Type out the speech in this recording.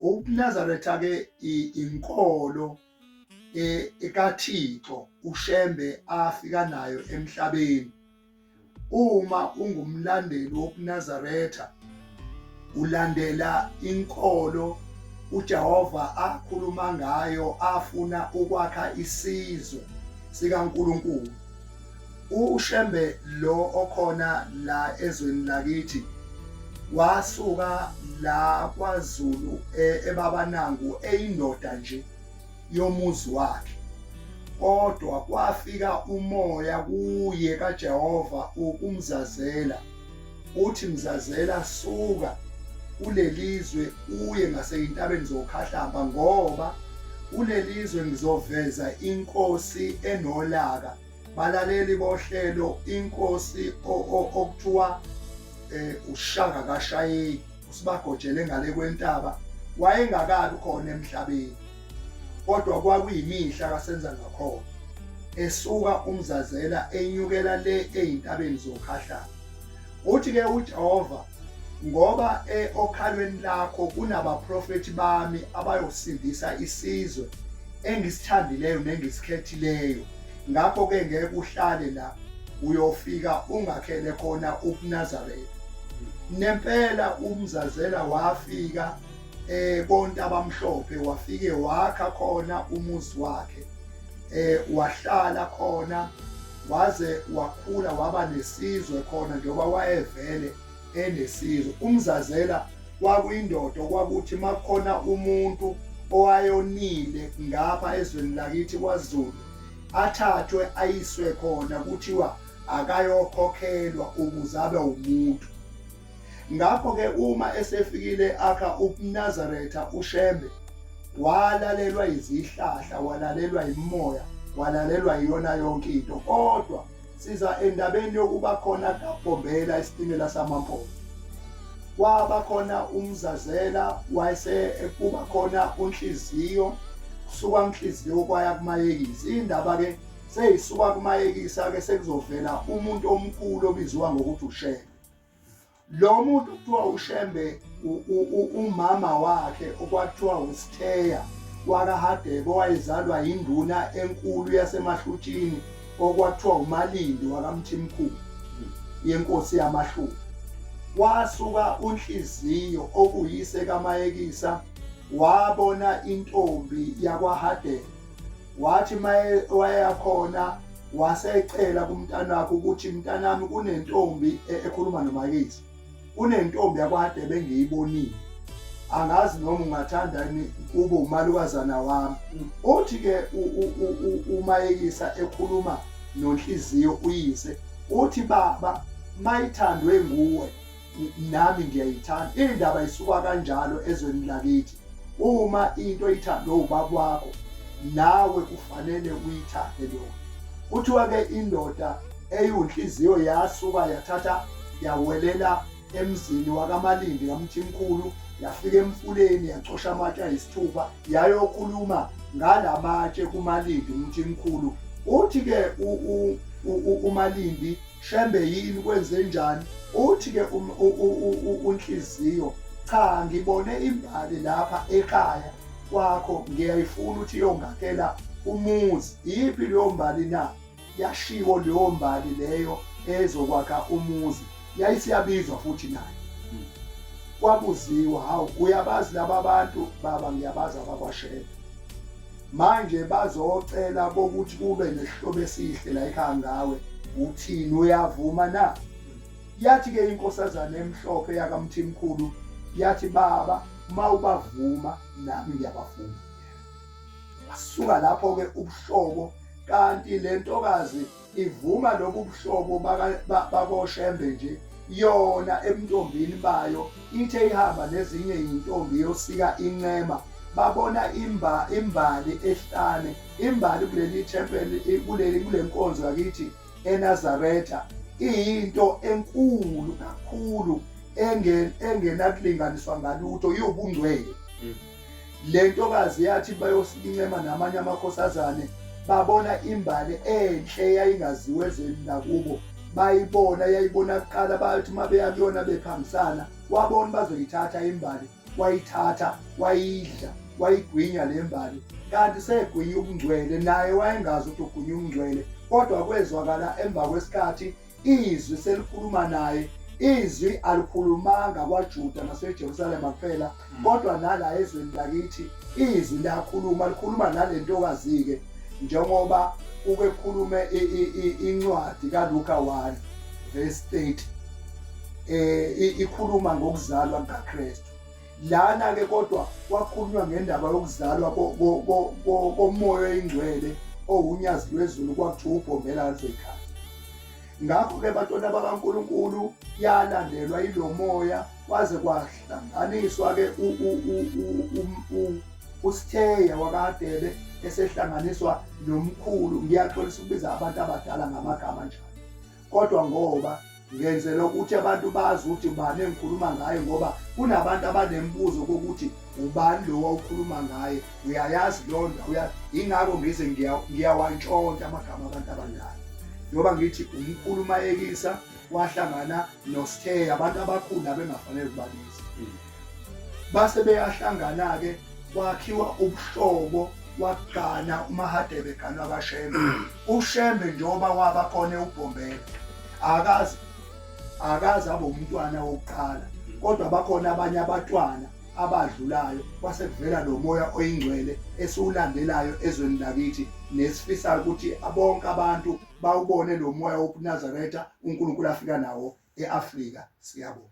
UNazaretha-ke inkolo e, ekaThixo uShembe afika nayo emhlabeni. Uma ungumlandeli wokuNazaretha ulandela inkolo uJehova akhuluma ngayo afuna ukwakha isizwe sikaNkulunkulu. UShembe lo okhona la ezweni lakithi wasuka la kwaZulu e, ebabanangu eyindoda nje yomuzi wakhe kodwa kwafika umoya kuye kaJehova ukumzazela uthi mzazela suka kulelizwe uye ngaseyintabeni zokhahlamba ngoba kulelizwe ngizoveza inkosi enolaka balaleli bohlelo inkosi okuthiwa eh ushaka kashayeki usibagojele ngale kwentaba wayengakabi khona emhlabeni kodwa kwakuyimihla kasenza ngakhona esuka umzazela enyukela le ezintabeni zokhahlana Uthi ke uJehova ngoba eokhalweni lakho kunabaprofethi bami abayosindisa isizwe engisithandileyo nengisikhethileyo ngakho ke ngeke uhlale la uyofika ungakhele khona ubuNazaretha nempela umzazela wafika eh konke abamhlophe wafike wakha khona umuzi wakhe eh wahlala khona waze wakhula waba nesizwe khona njengoba wayevele enesizwe umzazela kwakuyindoda okwakuthi makukhona umuntu owayonile ngapha ezweni lakithi kwaZulu athathwe ayiswe khona kuthiwa akayokhokhelwa ukuze abe umuntu Ngakho-ke uma esefikile akha ubuNazaretha uShembe, walalelwa izihlahla, walalelwa imimoya, walalelwa iyona yonke into. Kodwa siza endabeni yokuba khona kaBhombela isitimela samaMpondo. Kwaba khona uMzazela wayese ekuba khona uNhliziyo kusuka uNhliziyo kwaya kuMayekisi. Indaba-ke seyisuka kuMayekisa-ke sekuzovela umuntu omkhulu obiziwa ngokuthi uShembe. lo muntu kuthiwa ushembe umama wakhe okwathiwa usitheya wakahadebe owayezalwa yinduna enkulu yasemahlutshini okwathiwa umalindi wakamthimkhulu yenkosi yamahlubi wasuka unhliziyo okuyise kamayekisa wabona intombi yakwahadebe wathi maye wayakhona wasecela kumntanakhe ukuthi mntanami kunentombi e, ekhuluma nomakisi kunentombi yakwade bengiyibonile angazi noma ungathanda yini kube umalukazana wami mm. uthi ke umayekisa ekhuluma nonhliziyo uyise uthi baba mayithandwe nguwe nami ngiyayithanda indaba isuka kanjalo ezweni lakithi uma into ithandwe ubaba wakho nawe kufanele uyithande leyo kuthiwa ke indoda eyinhliziyo yasuka yathatha yawelela emzini wakamalindi kamthimkhulu yafika emfuleni yacosha amatshe ayisithupha yayokhuluma ngala matshe kumalindi umthimkhulu uthi ke umalindi Shembe yini kwenzenjani? Uthi ke um, unhliziyo cha ngibone imbali lapha ekhaya kwakho ngiyayifuna ukuthi iyongakela umuzi. Iyiphi leyo mbali na? Yashiwo leyo mbali leyo ezokwakha umuzi. Yayisiyabizwa futhi nayo. Kwabuziwa, hawu uyabazi laba bantu baba ngiyabazi abakwashela. manje bazocela bokuthi kube nesihlobo esihle la ekhaya ngawe uthini uyavuma na yathi ke inkosazana emhlophe yakamthimkhulu yathi baba mawubavuma nami ngiyabavuma wasuka lapho ke ubuhlobo kanti lentokazi ivuma lobu buhlobo bakoshembe nje yona ebuntombini bayo ithe ihamba nezinye izintombi yosika incema babona imba imbali ehlane imbali kuleli thempeli kuleli kulenkonzo yakithi eNazaretha iyinto enkulu kakhulu engenakulinganiswa ngalutho iwubungcwele mm. Le ntokazi yathi bayosincema namanye amakhosazane babona imbali enhle eyayingaziwe ezweni lakubo bayibona yayibona kuqala bathi uma beya kuyona bephambisana wabona bazoyithatha imbali wayithatha wayidla wayigwinya le mbali kanti segwinya ubungcwele naye wayengazi ukuthi ugwinya ubungcwele kodwa kwezwakala emva kwesikhathi izwi selikhuluma naye izwi alikhulumanga kwaJuda naseJerusalema kuphela hmm. kodwa nala ezweni lakithi izwi liyakhuluma likhuluma nale ntokazi-ke njengoba ukekhulume incwadi kaLuka 1 verse 30 eh ikhuluma ngokuzalwa kukaKristu Lana-ke kodwa kwakhulunywa ngendaba yokuzalwa komoya oyingcwele owunyazi lwezulu kwakuthiwa ubhombela alvekhaya ngakho-ke bantwana bakankulunkulu yalandelwa ilo moya kwaze kwahlanganiswa-ke usitheya wakadebe esehlanganiswa nomkhulu ngiyaxolisa ukubiza abantu abadala ngamagama njalo kodwa ngoba ngenzela ukuthi abantu bazi ukuthi ubani engikhuluma ngaye ngoba kunabantu abanemibuzo kokuthi ubani lowa ukhuluma ngaye uyayazi leyo ndawo yingakho ngize ngiyawantshontsha amagama abantu abadala njengoba ngithi umkhulu umayekisa wahlangana nostheya abantu abakhulu abengafanele ukubabiza mm. base beyahlangana-ke kwakhiwa ubuhlobo wagana umahadebe ganwa kashembe ushembe njengoba waba khona ewubhombela akazi akazi abe umntwana wokuqala kodwa bakhona abanye abatwana abadlulayo kwase kuvela lo moya oyingcwele esiwulandelayo ezweni lakithi nesifisayo ukuthi bonke abantu bawubone lo moya wobunazaretha unkulunkulu afika nawo e-afrika siyabonga